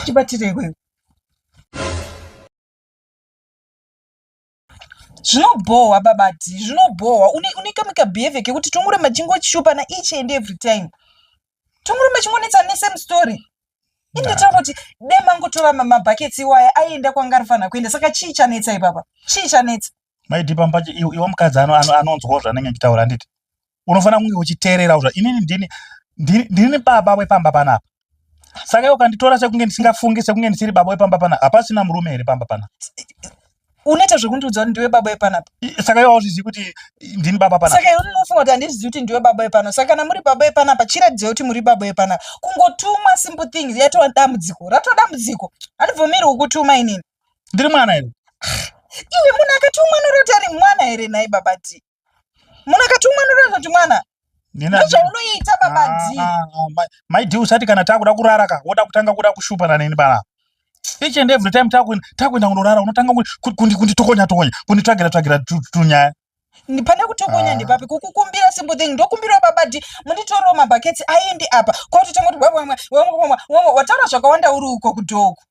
chibatire iwewe zvinobhohwa babati zvinobhohwa unekamika behavior kekuti tongoramba chingochishupa na each and every time Tumurume chingonetsa ne same story. Inde taura kuti dai mangotora mabhaketsi iwaya aienda kwanga ari fanira kuenda saka chii chanetsa ipapa? Chii chanetsa? Maiti pamba iwe mukadzi anonzwawo zvanenge nditaura handiti? Unofanira kunge uchiteererawo zva inini ndini ndini baba wepamba panapa. Saka iwe ukanditora sekunge ndisingafungi sekunge ndisiri baba wepamba panapa hapasina murume here pamba panapa? unoita zvekundiudza kuti ndiwe baba yepanapa saka iwe auzvizivi kuti ndini baba panapa saka iwe unofunga kuti handizvizivi kuti ndiwe baba yepanapa saka kana muri baba yepanapa chiratidzai kuti muri baba yepanapa kungotumwa simple things yatova dambudziko ratova dambudziko handibvumiri kukutuma inini ndiri mwana here iwe munhu akatumwa noroti ari mwana here nhai baba ti munakatumwa ndotoita kuti mwana ndozvaunoita baba ah, d ah, ah, mai d usati kana takuda kurara ka woda kutanga kuda kushupana neni bala each and every time takuenda kunorara unotanga kunditokonya tokonya kunditsvagira tsvagira tunyaya pane kutokonya ah. ndepapi kukukumbira simple thing ndokumbirawo baba d munditorewo mabhaketsi aende apa kwautotanga kuti wataura zvakawanda uri uko kudhoku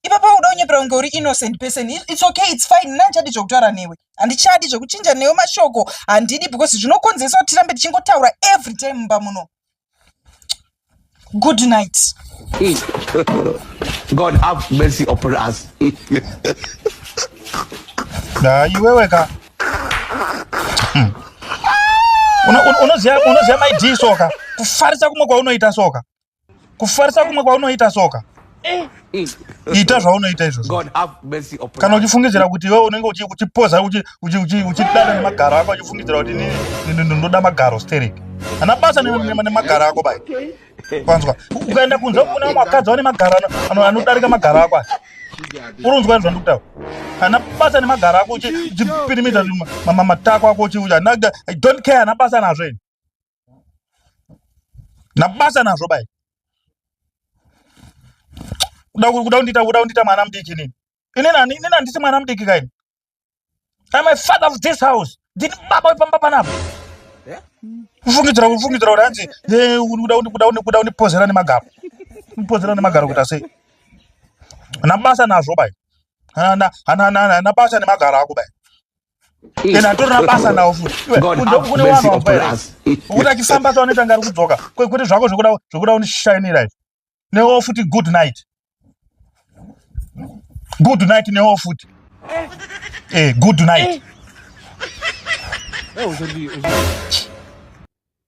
ipapa uda unyepera kunge uri innocent person its okay its fine mna handichadi zvekutaura newe handichadi zvekuchinja newe mashoko handidi because zvinokonzeresa kuti tirambe tichingotaura every time mumba muno good night god have mercy upon us na iwewe ka hmm. unoziva maidii soka kufarisa kumwe kwaunoita soka kufarisa kumwe kwaunoita soka eh. ita zvaunoita izvozvo kana uchifungidzira kuti iwe unenge uchipoza uchidana nemagaro ako uchifungidzira kuti ndoda magaro sterek ana basa nemagaro ako bai kwanzwa ukaenda kunze kuna vamwe vakadzi vane magaro anodarika magaro ako asi urunzwa izvo ndikutaura ana basa nemagaro ako uchipirimidza matako ako uchiuya i don't care ana basa nazvo ini nabasa nazvo bai kuda kuda kundiita kuda kundiita mwana mudiki nini ini nani ini nandisi mwana mudiki kaini I'm a father of this house ndini baba wepamba panapa kufungidzira kufungidzira kuti hanzi kuda kundipozera nemagaro kundipozera nemagaro kuita sei nabasa nazvo bai nabasa nemagaro ako bai then atorina basa nawo futikune wanhu wambaira ukuti achifamba tawanoita ngari kudzoka kwekuti zvako zvekuda undishainira izvi newo futi good night good night newo futi eh. eh, good night eh.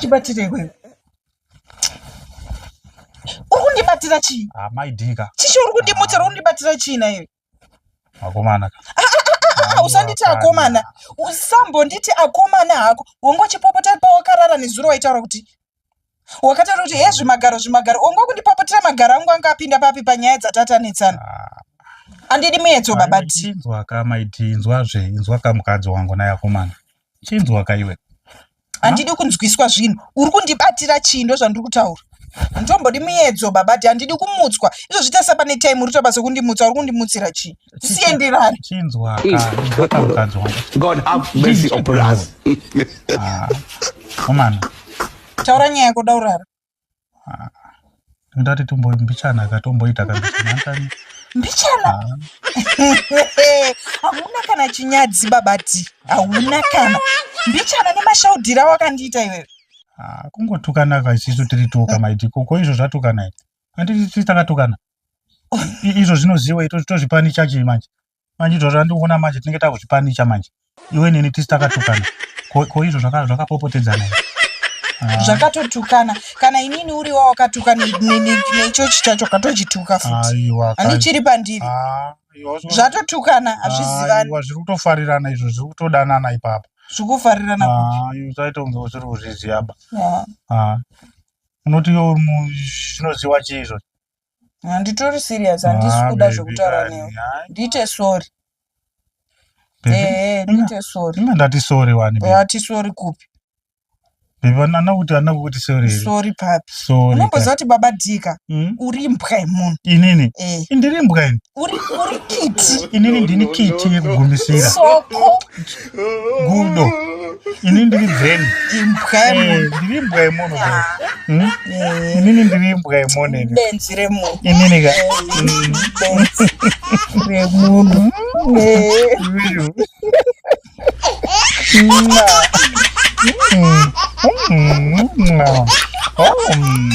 chibatire ikweyo uri kundibatira chii ah, maidika chichi uri kundimutsira uri kundibatira chii naiwe akomana ah, ah, usanditi akomana usambonditi akomana hako wongochipopota pawakarara nezuro waitaura kuti wakataura kuti he zvimagaro zvimagaro ongo kundipopotera magaro angu anga apinda papi panyaya dzatatanetsana ah. andidi muyedzo baba tinzwa ka maiti inzwa zve inzwa ka mukadzi wangu naye akomana chinzwa ka iwe handidi kunzwiswa zvinhu uri kundibatira chii ndo zvandiri kutaura nditombodi muyedzo baba ti handidi kumutswa izvo zvita sapane time uri tobasa kundimutsa uri kundimutsira chii sienderani chinzwa ka mukadzi wangu god have mercy upon us ah, woman taura nyaya yako daurara ah, ndati tumbo mbichana ka tomboita ka mbichana mbichana ah. hauna kana chinyadzi babati hauna kana mbichana nemashaudhira wakandiita iwewe kungotukana ka isisu tiri tuka maitiko ko izvo zvatukana handiti takatokana izvo zvinoziwa ito tozvipanicha chii manje manje izvo zvandikuona manje tinenge takuzvipanicha manje iwe nini tisi takatukana ko izvo zvakapopotedzana ah. zvakatotukana kana inini uri wa wakatuka nechochi chacho katochituka futi ani chiri pandiri ah, zvatotukana ah, hazvizivani zviri kutofarirana izvo zviri kutodanana ipapa zvikufarirana usaita kunge usiri kuzviziva ba unoti zvinoziwa chii izvozvo handitori serious handisi Ah, kuda baby zvekutaura kani, newe hayi. ndiite sorry Baby, ehe ina- ndiite sorry ina ndati sorry wani baby. ati sorry kupi Baby, ana- ana kuti ana kuti sorry here? sorry papi Sorry kani. unomboziva kuti baba dika Mm, uri mbwa yemunhu inini eh indiri mbwa ini uri uri kiti inini ndini kiti yekugumisira soko gudo ini ndiri bveni eh, ndiri imbwa yemono ah. hmm? eh. inini ndiri imbwa yemono benzi remunhu inini ka remunhu hmm. hmm.